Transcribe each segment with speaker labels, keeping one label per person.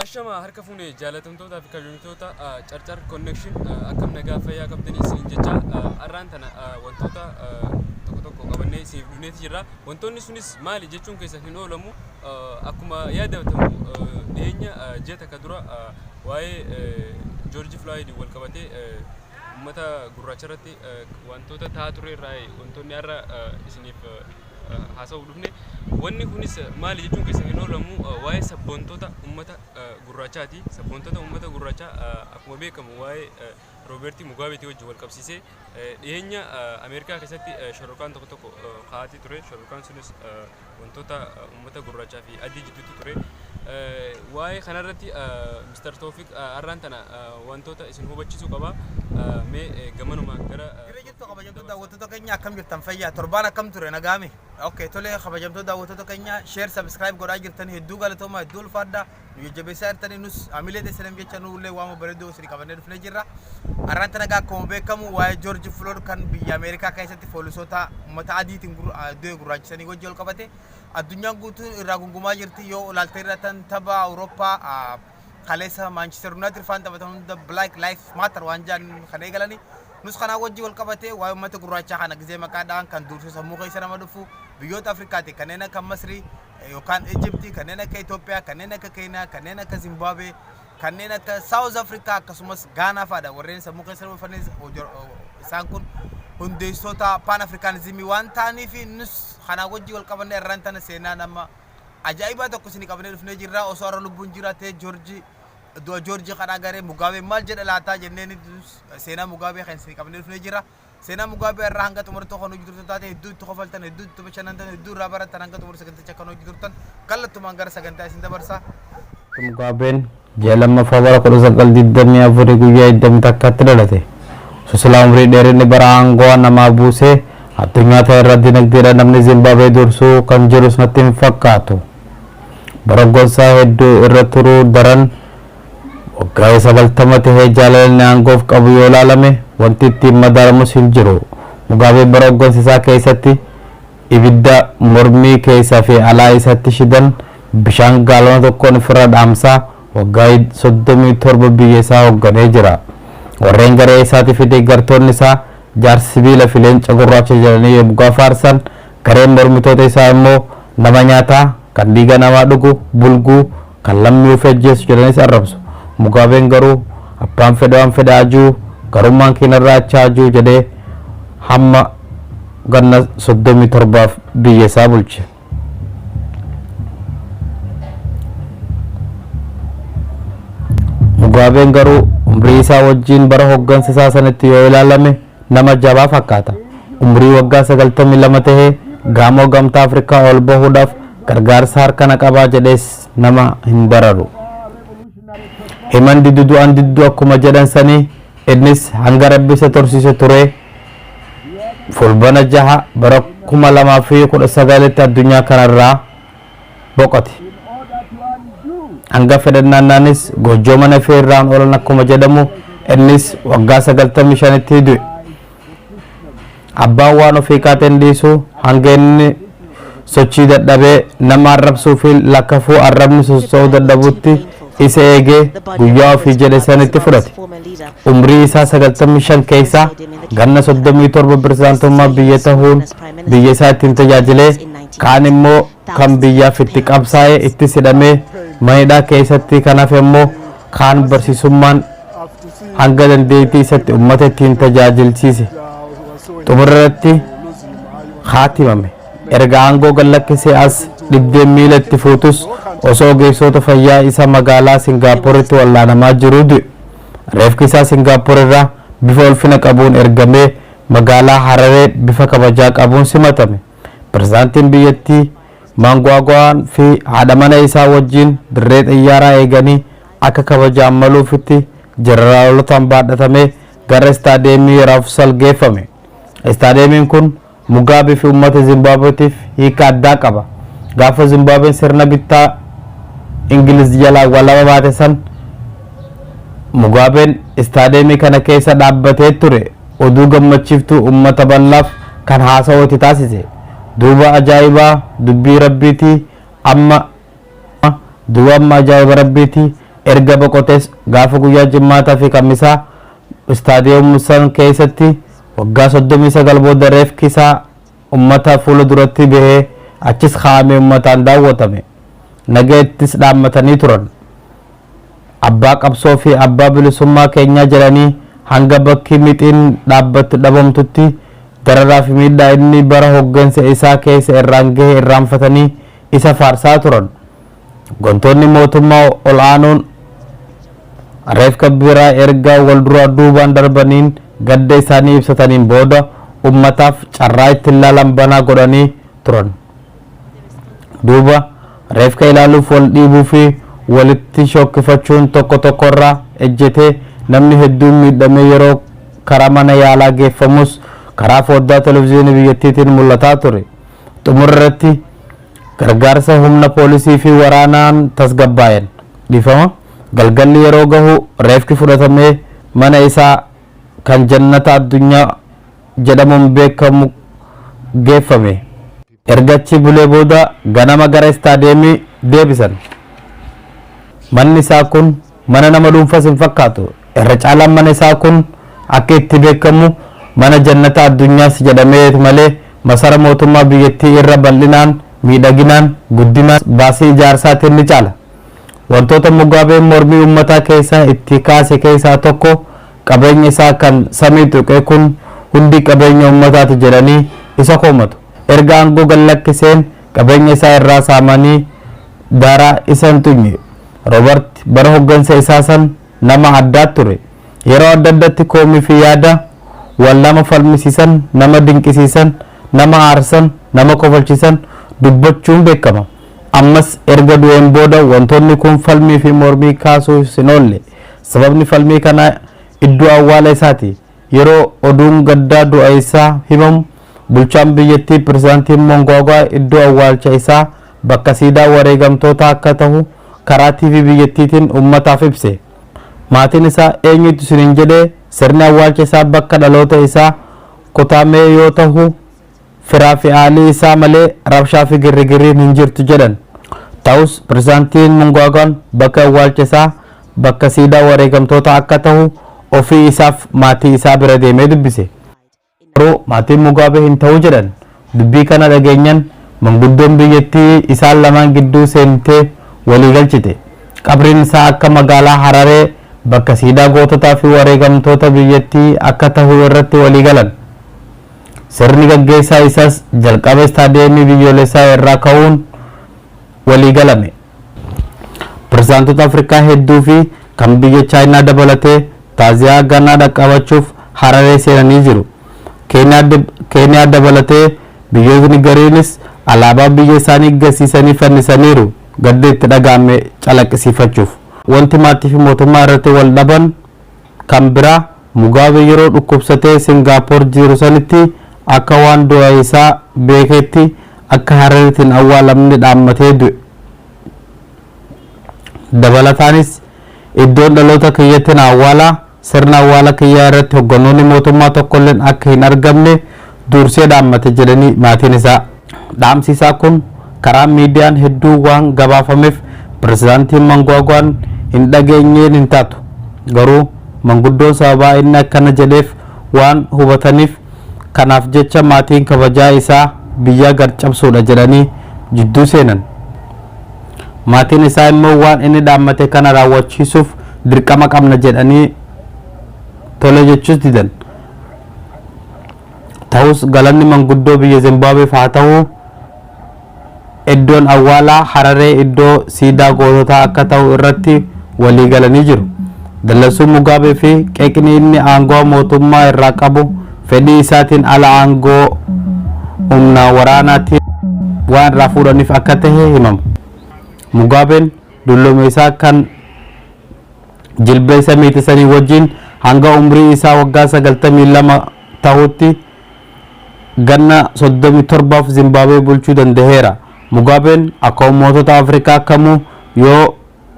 Speaker 1: Ashama harka fuune jaalatamtootaa fi kabajamtoota carcar connection akkam nagaa fayyaa qabdanii isiniin jecha har'aan tana wantoota tokko tokko qabannee isiniif dhufneeti jirra. Wantoonni sunis maali jechuun keessa hin oolamu akkuma yaadatamu dhiyeenya ji'a takka dura waa'ee Joorji Filaayidiin wal qabatee uummata gurraacha irratti wantoota ta'aa ture irraa wantoonni har'a isiniif haasa'uuf dhufne. Wanni kunis maali jechuun keessa hin oolamu waa'ee sabboontota uummata gurraachaati. Sabboontota uummata gurraachaa akkuma beekamu waa'ee Roobertii Mugaabeetii wajjin wal qabsiisee dhiyeenya Ameerikaa keessatti shororkaan tokko tokko kaa'atii ture. Shororkaan sunis wantoota uummata gurraachaa fi adii jidduutti ture. Waa'ee kanarratti Mr. Toofiq har'aan tana wantoota isin hubachiisuu qaba. Mee gamanuma gara kabajamtoota daawwattoota
Speaker 2: keenya akkam jirtan fayyaa torbaan akkam ture nagaame ok tolee kabajamtoota daawwattoota keenya sheer sabiskiraayib godhaa jirtan hedduu galatooma hedduu ulfaadha nu jajjabeessaa jirtanii nus amilee teessinan jecha nullee waama bareedduu isin qabannee dhufnee jirra arraanti nagaa akkuma beekamu waa'ee joorji flood kan biyya ameerikaa keessatti poolisoota uummata adiitiin du'e gurraachisanii wajji ol qabate addunyaan guutuun irraa gungumaa jirti yoo olaaltee irra tan tabaa awurooppaa kaleessa maanchister yuunaayitid faan taphatan hunda black life matter waan jaan kan eegalanii Nus kanaa wajji wal qabatee waa'ee ummata gurraachaa kana gizee maqaa dha'an kan duursuu sammuu keessa nama dhufu biyyoota Afrikaatii kanneen akka Masrii yookaan Ijibtii, kanneen akka Itoophiyaa, kanneen akka Keeniyaa, kanneen akka Zimbaabuwee, kanneen akka Saawuz Afrikaa akkasumas Gaanaa fa'adha warreen sammuu keessa nama dhufanis isaan kun hundeessitoota Paan Afrikaanizimii waan ta'aniif nus kanaa wajji wal qabannee irraan tana seenaa nama ajaa'ibaa tokko isinii qabannee dhufnee jirra osoo har'a lubbuun jiraatee Joorjii Du'a Joorji kan agaree Mugaabeen maal jedha laataa jennee ni seenaa Mugaabee kan isin qabnee dhufnee jira. Seenaa Mugaabee irraa hanga xumurtuu kan hojii turtan taate hedduu itti kofaltan, hedduu itti bashannantan, hedduu irraa barattan hanga xumur saganticha kan hojii turtan kallattumaan gara sagantaa isin dabarsa. Mugaabeen
Speaker 3: ji'a lammaffaa bara 1924 guyyaa 21tti dhalate. Osoo silaa umrii dheerinni bara aangoo namaa buusee addunyaa ta'e irra dinagdeedhaan namni Zimbaabuwee dursuu kan jirus natti hin fakkaatu. bara gorsaa hedduu irra turuu daran waggaa sagaltama tahee jaalalanni aangoof qabu yoo laalame wanti ittiin madaalamus hin jiru. Mugaabeen bara hoggansa isaa keessatti ibidda mormii keessa fi alaa isatti shidan bishaan gaalona tokkoon ifirra dhaamsaa waggaa 37 biyya isaa hogganee jira. Warreen garee isaati fi deeggartoonni isaa jaarsa sibiila fi leenca gurraacha jedhanii yomgaa faarsan Gareen mormitoota isaa immoo nama nyaataa, kan dhiiga namaa dhugu, bulguu, kan lammii ofii ajjeesu jedhaniis arrabsu. Mugaabeen garuu abbaan fedhe waan fedhe haa ji'u, garummaan kee narraa achi haa ji'u jedhee hamma ganna 37f biyya isaa bulche. Mugaabeen garuu umrii isaa wajjin bara hoggansa isaa sanitti yoo ilaalame, Nama jabaa fakkaata. Umrii waggaa 92 tahee gaamoo Gamtaa Afrikaa ol bahuudhaaf gargaarsa harka na qabaa jedhees nama hin bararu. Himan didu du'an diddu akkuma jedhan sanii innis hanga Rabbi isa tursiise turee Fulbana 6 bara 2019tti addunyaa kanarraa boqote. Hanga fedhan naannaanis goojjoo mana fee irraan oolan akkuma jedhamu innis waggaa sagaltamii shanitti du'e. Abbaan waan ofii kaateen dhiisu hanga inni sochii dadhabee nama arrabsuu fi lakkafuu arrabni sossoo'uu dadhabutti isa eegee guyyaa ofii jedhe sanitti fudhate. Umrii isaa sagaltamii shan keessaa ganna soddomii torba pirezidaantummaa biyya tahuun biyya isaa ittiin tajaajilee Oromiyaatti. Kaan immoo kan biyyaaf itti qabsaa'ee ittis hidhamee mana hidhaa keessatti kan hafe immoo kaan barsiisummaan hanga dandeettii isatti ummata ittiin tajaajilchiise. Xumura irratti haatimame. Erga aangoo gad lakkisee as dhibdeen miila itti fuutus osoo ogeessoota fayyaa isa magaalaa Singaappooritti wal'aanamaa jiruu du'e. Reefki isaa Singaappoor irraa bifa ulfina qabuun ergamee magaalaa Hararee bifa kabajaa qabuun simatame. Pirezidaantiin biyyattii Maangwaagwaan fi haadha mana isaa wajjin dirree xiyyaaraa eeganii akka kabajaan maluufitti jeneraalotaan baadhatamee gara istaadiyeemii Raafusal geeffame. Istaadiyeemiin kun Mugaabee fi uummata Zimbaabuweetiif hiika addaa qaba. Gaafa Zimbaabween sirna bittaa Ingiliz jalaa walaba baate san Mugaabeen istaadiyeemii kana keessa dhaabbatee ture. Oduu gammachiiftuu ummata ballaaf kan haasawa itti taasise. Duuba ajaa'ibaa dubbii Rabbiiti amma Duuba amma ajaa'iba Rabbiiti erga boqotees gaafa guyyaa Jimmaataa fi Kamisaa Stadium Mussan keessatti waggaa 39 booda reefki isaa ummata fuula duratti bahee achis kaa'amee ummataan daawwatame. Nagayattis dhaammatanii turan. Abbaa qabsoo fi abbaa bilisummaa keenyaa jedhanii hanga bakki mixiin dhaabbattu dhabamtutti dararaa fi miidhaa inni bara hoggansa isaa keessa irraan gahe irraanfatanii isa faarsaa turan. Hooggantoonni mootummaa ol aanuun reefka biraa erga wal duraa duubaan darbaniin gadda isaanii ibsataniin booda ummataaf carraa ittiin laalan banaa godhanii turan. Duuba reefka ilaaluuf wal dhiibuu fi walitti shookkifachuun tokko tokkorraa ejjetee namni hedduun miidhamee yeroo karaa mana yaalaa geeffamus karaa fooddaa televizyiinii biyyattiitiin mul'ataa ture. Xumura irratti gargaarsa humna poolisii fi waraanaan tasgabbaa'een dhiifama galgalli yeroo gahu reefki fudhatamee mana isaa kan Jannata Addunyaa jedhamuun beekamu geeffame. Erga achi bulee booda ganama gara istaadiyeemii deebisan. Manni isaa kun Mana nama dhuunfas hin fakkaatu. Irra caalaan mana isaa kun akka itti beekamu mana jannata addunyaas jedhameet malee masara mootummaa biyyattii irra bal'inaan, miidhaginaan, guddinaan, baasii ijaarsaatiin ni caala. Wantoota Mugaabeen mormii uummataa keessa itti kaase keessaa tokko qabeenya isaa kan samii tuqe kun hundi qabeenya uummataati jedhanii isa komatu. Erga aangoo gad lakkiseen qabeenya isaa irraa saamanii daaraa isa hin tuqne. Robert bara hoggansa isaa san nama addaa ture. Yeroo adda addatti koomii fi yaada wal nama falmisiisan, nama dinqisiisan, nama aarsan, nama kofalchisan dubbachuun beekama. Ammas erga du'een booda wantoonni kun falmii fi mormii kaasuuf hin oolle. Sababni falmii kanaa iddoo awwaala isaati. Yeroo oduun gaddaa du'a isaa himamu, bulchaan biyyattii Pirezidaantiin Mongwaagwaa iddoo awwaalcha isaa bakka siidaa wareegamtootaa akka tahu karaa TV biyyattiitiin uummataaf ibse. Maatiin isaa eenyutu isiniin jedhee sirni awwaalcha isaa bakka dhaloota isaa Kutaamee yoo tahu Firaa fi aalii isaa malee rabshaa fi girrigirriin hin jirtu jedhan. Ta'us Pirezidaantiin Mungwaagwaan bakka awwaalcha isaa bakka siidaa wareegamtootaa akka tahu ofii isaaf maatii isaa bira deemee dubbise. Garuu maatiin Mugaabee hin tahu jedhan. Dubbii kana dhageenyan manguddoon biyyattii isaan lamaan gidduu seentee walii galchite. Qabriin isaa akka magaalaa Hararee bakka siidaa goototaa fi wareegamtoota biyyattii akka tahu irratti walii galan. Sirni gaggeessaa isas jalqaba Istaadiyeemii Biyyoolessaa irraa ka'uun walii galame. Pirezidaantota Afrikaa hedduu fi kan biyya Chaayinaa dabalatee taaziyaa ganaa dhaqqabachuuf Hararee seenanii jiru. Keeniyaa dabalatee biyyootni gariinis alaabaa biyya isaanii gasiisanii fannisaniiru gadda itti dhaga'ame calaqqisiifachuuf. Wanti maatii fi mootummaa irratti wal dhaban Kan biraa, Mugaabe yeroo dhukkubsatee Singaapoor jiiru sanitti akka waan du'a isaa beekeetti akka Hararitti hin awwaalamne dhaammatee du'e. Dabalataanis, Iddoon dhaloota kiyyatti na awwaalaa, sirna awwaala kiyyaa irratti hogganoonni mootummaa tokkolleen akka hin argamne duursee dhaammate jedhanii maatiin isaa. Dhaamsi isaa kun karaa miidiyaan hedduu waan gabaafameef Pirezidaantiin Mangwaagwaan hin dhageenyeen hin taatu. Garuu manguddoon sababaa inni akkana jedheef waan hubataniif kanaaf jecha maatiin kabajaa isaa biyyaa gad cabsuudha jedhanii jidduu seenan. Maatiin isaa immoo waan inni dhaammate kana raawwachiisuuf dirqama qabna jedhanii tole jechuus didan. Tahus galanni manguddoo biyya Zimbaabeef haa tahu eddoon awwaalaa Hararee iddoo siidaa goototaa akka tahu irratti walii galanii jiru. Dallansuun Mugaabee fi qeeqni inni aangawa mootummaa irraa qabu fedhii isaatiin ala aangoo humna waraanaatiin waan irraa fuudhaniif akka tahe himama. Mugaabeen dullome isaa kan. jilbeensa meetii sanii wajjiin hanga umrii isaa waggaa 92 tahutti ganna 37f Zimbaabwee bulchuu dandaheera. Mugaabeen akka ummootota Afrikaa kamuu yoo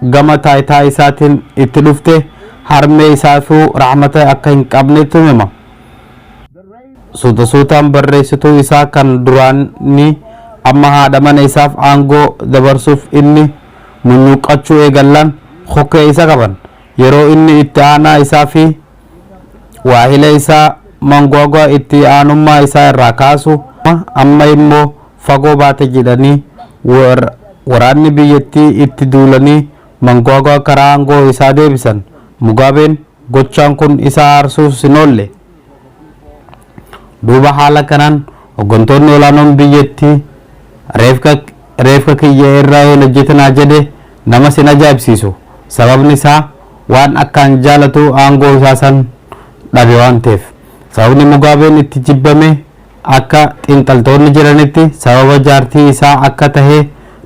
Speaker 3: gama taayitaa isaatiin itti dhufte harmee isaafuu rahmata akka hin qabnetu hima. Suuta suutaan barreessituu isaa kan duraanii amma haadha mana isaaf aangoo dabarsuuf inni munyuuqqachuu eegallaan kokkee isa qaban. Yeroo inni itti aanaa isaa fi waahilee isaa Mangwagwa itti aanummaa isaa irraa kaasu, amma immoo fagoo baate jedhanii waraanni biyyattii itti duulanii Mangwagwa karaa aangoo isaa deebisan. Mugaabeen gochaan kun isa aarsuus hin oolle. Duuba haala kanaan hoggantoonni olaanoon biyyattii reefka reefka kiyya irraa hin hojjetinaa jedhe namas hin ajaa'ibsiisu. Sababni isaa waan akkaan jaalatu aangoo isaa san dhabe waan ta'eef. Sababni Mugaabeen itti jibbame akka xiinxaltoonni jedhanitti sababa jaartii isaa akka tahe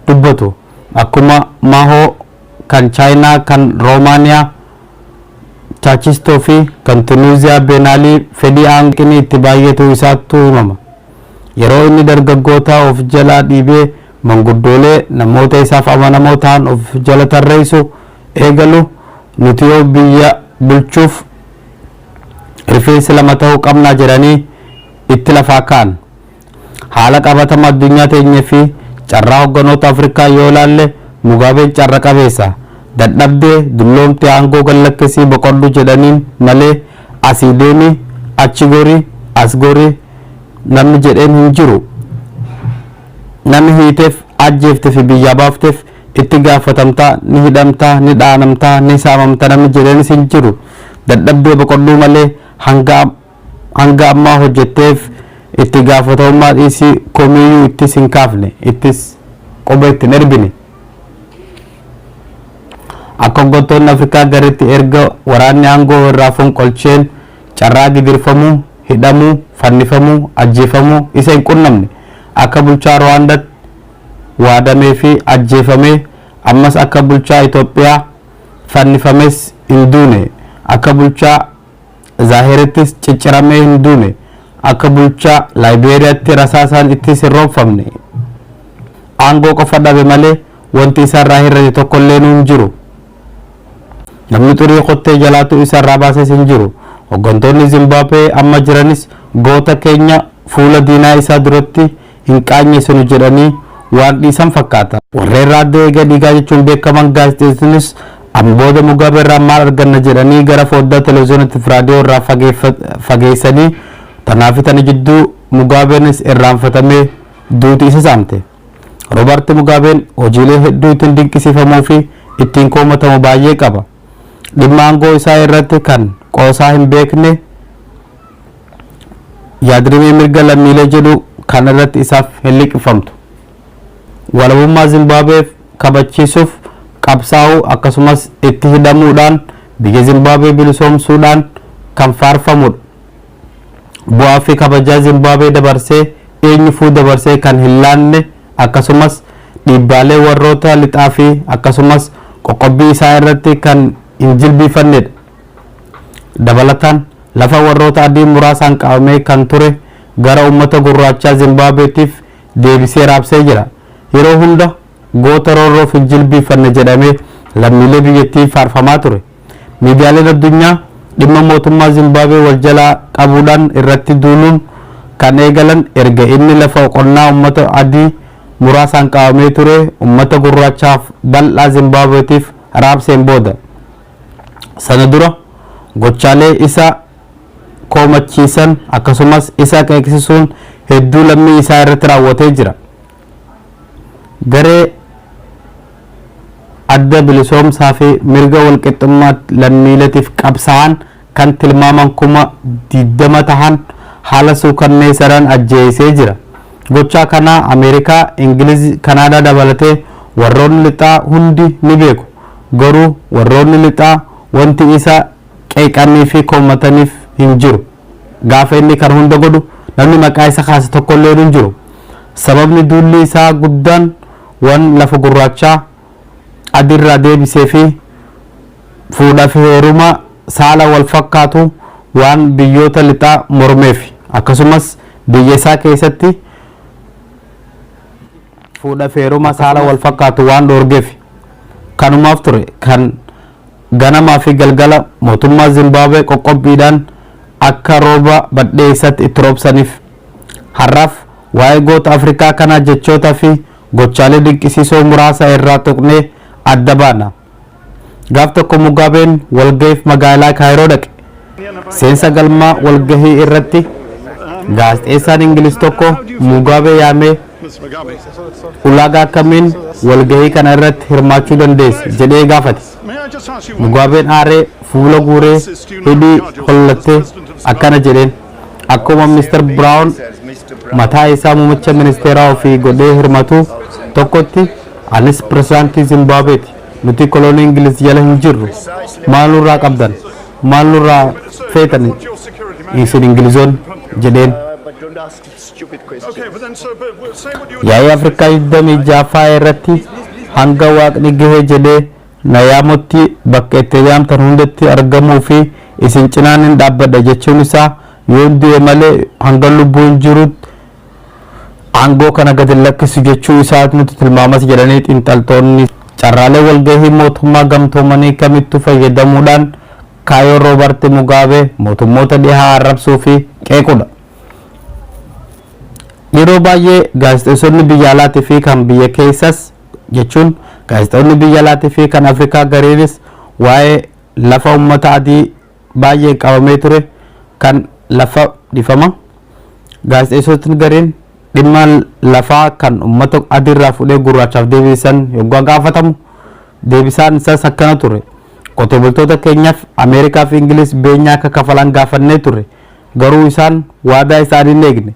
Speaker 3: dubbatu. Akkuma Mahoo. kan Chaayinaa, kan Roomaaniyaa, Chaachistoo fi kan Tunuuziyaa, Beenaalii, fedhii aanqinii itti baay'atuu isaattu himama. Yeroo inni dargaggootaa of jalaa dhiibee manguddoolee, namoota isaaf amanamoo ta'an of jala tarreessu eegalu, Nuti yoo biyya bulchuuf rifeensi lama ta'uu qabna jedhanii itti lafaa ka'an. Haala qabatama addunyaa teenyee fi carraa hogganoota Afrikaa yoo ilaalle Mugaabeen carra qabeessa. Dadhabdee, dulloomte aangoo gad lakkisii boqodhu jedhaniin malee asii deemi, achi gori, as gori namni jedheen hin jiru. Nami hiiteef, ajjeefte fi biyyaa baafteef itti gaafatamta, ni hidhamta, ni dhaanamta, ni saamamta namni jedheenis hin jiru. Dadhabdee boqodhuu malee hanga hanga ammaa hojjetteef itti gaafatamummaa dhiisii komiiyyuu ittis hin kaafne, ittis quba itti hin erbine. Akka hoggantoonni Afrikaa garritti erga waraanni aangoo irraa fonqolcheen carraa gidirfamuu, hidhamuu, fannifamuu, ajjeefamuu isa hin qunnamne. Akka bulchaa Ruwaandatt waadamee fi ajjeefamee, ammas akka bulchaa Itoophiyaa fannifames hin duune. Akka bulchaa. Zaahirittis cicciramee hin duune. Akka bulchaa Laayibeeriyaatti rasaasaan ittis hin roobfamne. Aangoo qofa dhabe malee wanti isarraa hir'ate tokkolleenu hin jiru. Namni xurii kottee jalaatu isarraa baases hin jiru. Hoggantoonni Zimbaabwee amma jiranis goota keenya fuula diinaa isaa duratti hin qaanyeessinu jedhanii waan dhiisan fakkaata. Warreen raaddoo eegee dhiigaa jechuun beekaman gaazexeessitoonnis amma booda Mugaabee irraa maal arganna jedhanii gara fooddaa televiziyoonatti fi raadiyoo irraa fageessanii tanaa fi tana jidduu Mugaabeenis irraanfatamee duuti isa saamte. Robaarti Mugaabeen hojiilee hedduu ittiin dinqisiifamuu fi ittiin komatamu baay'ee qaba. Dhimma aangoo isaa irratti kan qoosaa hin beekne, yaadrimee mirga lammiilee jedhu kan irratti isaaf hin liqimfamtu. Walabummaa Zimbaabeef kabachiisuuf qabsaa'uu akkasumas itti hidhamuudhaan biyya Zimbaabee bilisoomsuudhaan kan faarfamudha. Bu'aa fi kabajaa Zimbaabee dabarsee eenyufuu dabarsee kan hin laanne akkasumas dhiibbaalee warroota lixaa fi akkasumas qoqqobbii isaa irratti kan hin jilbiifannedha. Dabalataan, lafa warroota adii muraasaan qabamee kan ture gara uummata gurraachaa Zimbaabeetiif deebisee raabsee jira. Yeroo hunda goota roorroof hin jilbiiffanne jedhamee lammiilee biyyattiin faarfamaa ture. Miidiyaaleen addunyaa dhimma mootummaa Zimbaabwee wal jalaa qabuudhaan irratti duuluun kan eegalan erga inni lafa qonnaa uummata adii muraasaan qabamee ture uummata gurraachaaf bal'aa Zimbaabweetiif raabseen booda. sana dura gochaalee isa koomachiisan akkasumas isa qeeqsisuun hedduu lammii isaa irratti raawwatee jira. Garee adda bilisoomsaa fi mirga walqixxummaa lammiiletiif qabsaa'an kan tilmaaman kuma 20 tahan haala suukanneesadhaan ajjeesee jira. Gochaa kana Ameerikaa, Ingiliz, Kanaadaa dabalatee warroonni lixaa hundi ni beeku. Garuu warroonni lixaa wanti isa qeeqanii fi komataniif hin jiru. Gaafa inni kana hunda godhu namni maqaa isa kaase tokkolleen hin jiru. Sababni duulli isaa guddaan wan lafa gurraachaa, adii irraa deebisee fi fuudhaa fi heeruma saala wal fakkaatu waan biyyoota lixaa mormeef akkasumas biyya isaa keessatti fuudha fi heeruma saala wal fakkaatu waan dhoorgeef kanumaaf ture kan ganamaa fi galgala mootummaa Zimbaabuwee qoqqobbiidhaan akka rooba badheessatti itti roobsaniif har'aaf waa'ee goota Afrikaa kanaa jechootaa fi Gochaalee dinqisiisoo muraasa irraa tuqnee adda baana. Gaaf tokko Mugaabeen walgahiif magaalaa Kaayiroo dhaqe. Seensa galmaa walgahii irratti gaazexeessaan Ingiliz tokko Mugaabee yaamee ulaagaa akkamiin walgahii kana irratti hirmaachuu dandeessa jedhee gaafate. Mugaabeen aaree fuula guuree hidhii hollattee akkana jedheen. Akkuma Mr. Brown mataa isaa mumicha ministeeraa ofii godhee hirmatu tokkotti anis pirezidaantii Zimbaabeeti. Nuti kolonii Ingiliz jala hin jirru. Maal nurraa qabdan? Maal nurraa feetan isin Ingilizoonni? jedheen. Yaa'ii Afrikaa 26ffaa irratti hanga waaqni gahe jedhee Nayaamutti bakka itti eeyyamamtan hundatti argamuu fi isin cinaa nin dhaabbadha jechuun isaa yoon du'e malee hangan lubbuun jirutti aangoo kana gad hin lakkisu jechuu isaatu nutti tilmaamas jedhanii xiinxaltoonni. Carraalee walgahii mootummaa gamtoomanii kamittuu fayyadamuudhaan kaayoon Roobarti Mugaabee mootummoota dhihaa arrabsuu fi qeequudha. Yeroo baay'ee gaazexeessonni biyya alaatii fi kan biyya keessas jechuun gaazexoonni biyya alaatii fi kan Afrikaa gariinis waa'ee lafa ummata adii baay'een qabamee ture kan lafa dhifama gaazexeessotni gariin dhimma lafaa kan ummata adiirraa fudhee gurraachaaf deebiisan yoggaa gaafatamu deebisaan isaas akkana ture qotee bultoota keenyaaf Ameerikaa fi Ingiliis beenyaa akka kafalan gaafannee ture garuu isaan waadaa isaanii hin eegne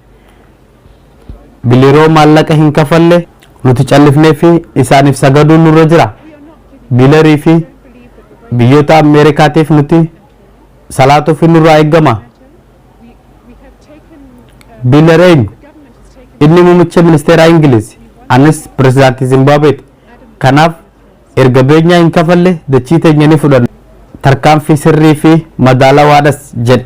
Speaker 3: Bileroo maallaqa hin kafalle nuti callifneeffi isaaniif sagaduun nurra jira. Bilerii fi biyyoota Ameerikaatiif nuti salaatuufi nurraa eeggama. Biler eenyu? Inni muummicha ministeeraa Ingiliizi. Anis pirezidaantii Zimbaabeeti. Kanaaf Erga beenyaa hin kafalle dachii teenya ni fudhanna, tarkaanfii sirrii fi madaalawaadhas jedhe.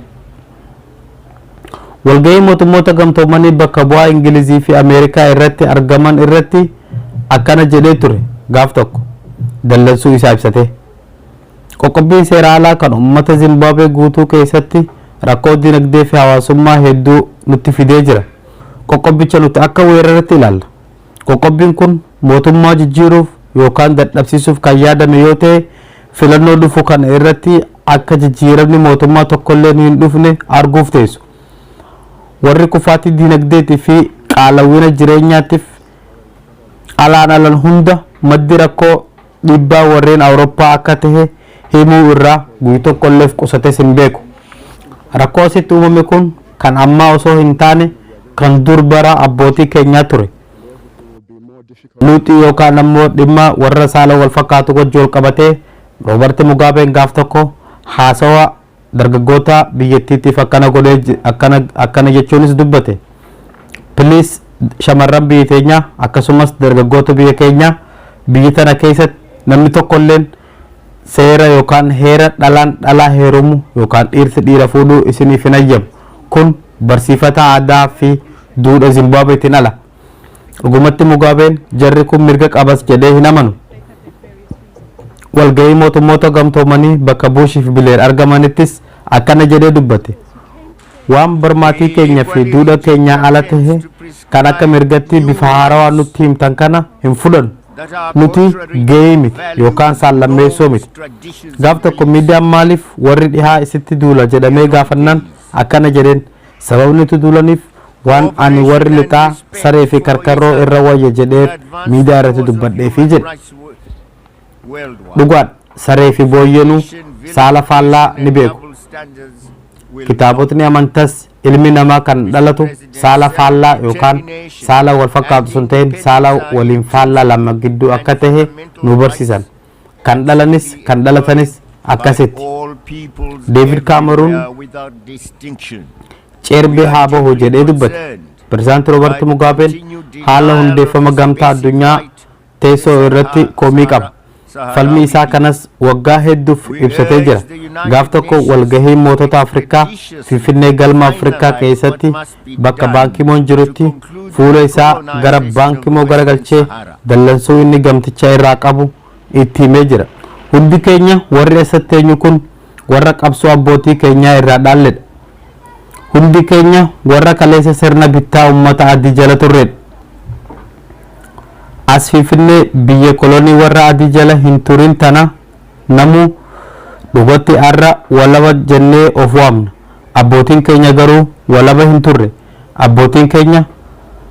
Speaker 3: Walgahii Mootummoota Gamtoomanii bakka bu'aa Ingilizii fi Ameerikaa irratti argaman irratti akkana jedhee ture gaaf tokko dallansuu isaa ibsatee. Qoqqobbiin seera alaa kan ummata Zimbaabuwee guutuu keessatti rakkoo dinagdee fi hawaasummaa hedduu nutti fidee jira. Qoqqobbicha nuti akka weeraratti ilaalla. Qoqqobbiin kun mootummaa jijjiiruuf yookaan dadhabsiisuuf kan yaadame yoo ta'e filannoo dhufu kana irratti akka jijjiiramni mootummaa tokkolleen hin dhufne arguuf teessu. Warri kufaatii dinagdeetii fi qaala'ina jireenyaatiif alaan alan hunda maddi rakkoo dhiibbaa warreen Awurooppaa akka tahe himuu irraa guy tokkolleef qusates hin beeku. Rakkoo asitti uumame kun kan ammaa osoo hin taane kan dur bara abbootii keenyaa ture. Luuxii yookaan ammoo dhimma warra saala wal fakkaatu wajji wal qabatee Roobart Mugaabeen gaaf tokko haasawa dargaggoota biyyattiitiif akkana godhee je- akkana akkana jechuunis dubbate. Piliis shamarran biyya teenyaa akkasumas dargaggoota biyya keenyaa biyya tana keessatti namni tokkolleen seera yookaan heera dhalaan dhalaa heerumu yookaan dhiirsi dhiira fuudhuu isiniif hin hayyamu. Kun barsiifata aadaa fi duudha Zimbaabuweetiin ala. Dhugumatti Mugaabeen jarri kun mirga qabas jedhee hin amanu. Walgahii mootummoota gamtoomanii bakka Buush fi Bileer argamanittis akkana jedhee dubbate. Waan barmaatii keenya fi duudha keenyaa ala tahe kan akka mirgatti bifa haarawaa nutti himtan kana hin fudhannu. Nuti gahee miti yookaan saallammeessoo miti. Gaaf tokko miidiyaan maaliif warri dhihaa isitti duula jedhamee gaafannaan akkana jedheen. Sababni itti duulaniif waan ani warri lixaa saree fi karkarroo irra wayya jedhee miidiyaa irratti dubbadheefi jedhe. Dhugaadha, saree fi booyyeenuu saala faallaa ni beeku. Kitaabotni amantas ilmi namaa kan dhalatu saala faallaa yookaan saala wal fakkaatu osoo hin ta'in saala waliin faallaa lama gidduu akka tahe nu barsiisan. kan dhalanis kan dhalatanis akkasitti deevid kaameruun ceerbee haa bahu jedhee dubbate pirezidaanti roobarti mugaabeen haala hundeeffama gamtaa addunyaa teessoo irratti komii qaba falmii isaa kanas waggaa hedduuf ibsatee jira gaaf tokko walgahii mootota afrikaa finfinnee galma afrikaa keessatti Bakka Baan Ki Moon jirutti fuula isaa gara Baan Ki Moo garagalchee dallansuu inni gamticha irraa qabu itti himee jira. Hundi keenya warri asatti teenyu kun warra qabsoo abbootii keenyaa irraa dhaalledha. Hundi keenya warra kaleessa sirna bittaa ummata adii jala turredha. As Finfinnee biyya kolonii warra adii jala hin turin tana Namuu dhugatti har'a walaba jennee of waamna. Abbootiin keenya garuu walaba hin turre. Abbootiin keenya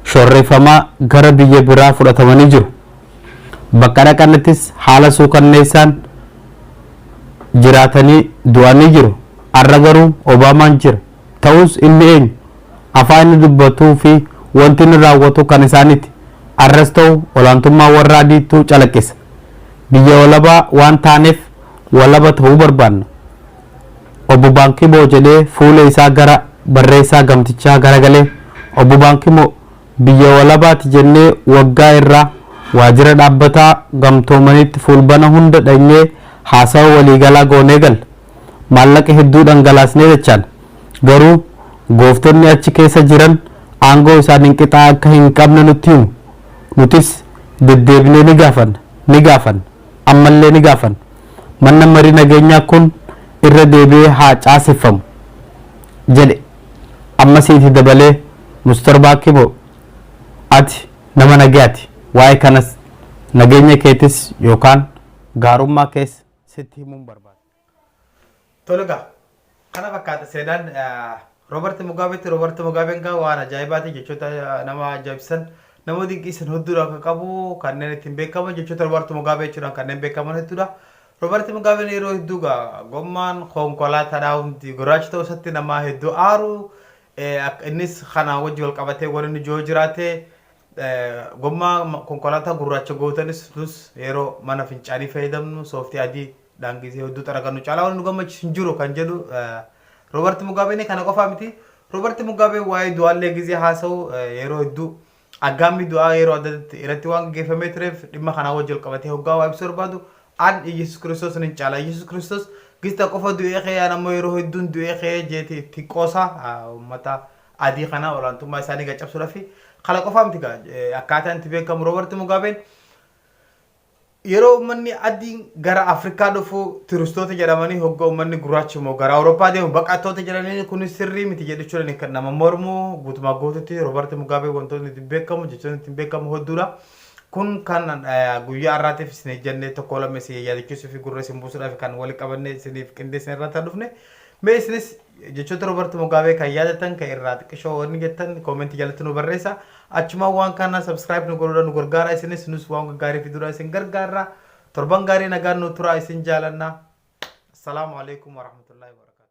Speaker 3: shorreeffamaa gara biyya biraa fudhatamanii jiru. Bakka dhaqanittis haala suukanneessaan jiraatanii du'anii jiru. Har'a garuu Obaamaan jira. Ta'us inni eenyu? Afaan inni dubbatuu fi wanti inni raawwatu kan isaaniiti. Har'as ta'u olaantummaa warra adiitu calaqqisa. Biyya walabaa waan taaneef walaba ta'uu barbaanna. Obbo Baankimoo jedhee fuula isaa gara barreessaa gamtichaa garagalee, Obbo Baankimoo, biyya walabaati jennee waggaa irraa waajjira dhaabbataa gamtoomaniitti fuulbana hunda dhaqnee haasawa waliigalaa goonee galla. Maallaqa hedduu dhangalaasnee dachaana. Garuu gooftonni achi keessa jiran aangoo isaaniin qixaa akka hin qabne nutti himu. Nutis deddeebinee ni gaafanna, ni gaafanna, ammallee ni gaafanna. Manna marii nageenyaa kun irra deebi'ee haa caaseffamu, jedhe. Ammas iiti dabalee Mr Baakimo ati nama nagayaati, waa'ee kanas nageenya keetis yookaan gaarummaa kees sitti himuun barbaada. Tole
Speaker 2: gaa kana fakkaata seenaan Roobert Mugaabeetti Roobert Mugaabeen gaa waan ajaa'ibaati jechoota nama ajaa'ibsiisan nama dinqiisan hedduudha kan qabu kanneen ittiin beekaman jechoota Roobert Mugaabee jechuudhaan kanneen beekaman hedduudha. Roobert Mugaabeen yeroo hedduu gaa gommaan konkolaataadhaa hundi gurraacha ta'uu isaatti nama hedduu aaru innis kana wajji wal qabatee waan inni jiru jiraate gommaa konkolaataa gurraacha gootanis nus yeroo mana fincaanii fayyadamnu sooftii adii dhaan gisee hedduu xaragannu caalaa waan nu gammachiisu hin jiru kan jedhu Roobarti Mugaabeen kana qofaa miti. Roobarti Mugaabeen waa'ee du'aallee gisee haasa'u yeroo hedduu aggaammii du'aa yeroo adda addaatti irratti waan gaggeeffamee tureef dhimma kanaa wajjin wal qabatee hoggaa waa ibsuu barbaadu an Iyyasuus Kiristoos nin caala. Iyyasuus Kiristoos gista qofa du'ee ka'ee an ammoo yeroo hedduun du'ee ka'ee jeeti itti qoosa uummata adii kana olaantummaa isaanii gaccabsuudhaaf kana qofaa miti akkaataa itti beekamu Roobarti Mugaabeen Yeroo ummanni adiin gara Afrikaa dhufu turistoota jedhamanii hogga ummanni gurraachi immoo gara Awurooppaa deemu baqattoota jedhanii kun sirrii miti jedhuchuudhaan kan nama mormu guutumaa guututti Roobart Mugaabee wantoonni ittiin beekamu jechoonni ittiin beekamu hedduudha. Kun kan guyyaa har'aatiif isin ejjannee tokko lama isin yaadachiisuu fi gurra isin buusuudhaaf kan walitti qabannee isiniif qindeessine irraa ta'an dhufne mee isinis Jechoota Roobart Mugaabee kan yaadattan kan irraa xiqqishoo wanni jettan koomentii jalatti nu barreessa. Achumaan waan kana subscribe nu godhuudhaan nu gargaara isinis nus waan gaggaarii fiduudhaan isin gargaarra. Torban gaarii nagaan nu turaa isin jaalanna. Assalaamu alaikum warahmatullahi wabarakatuh.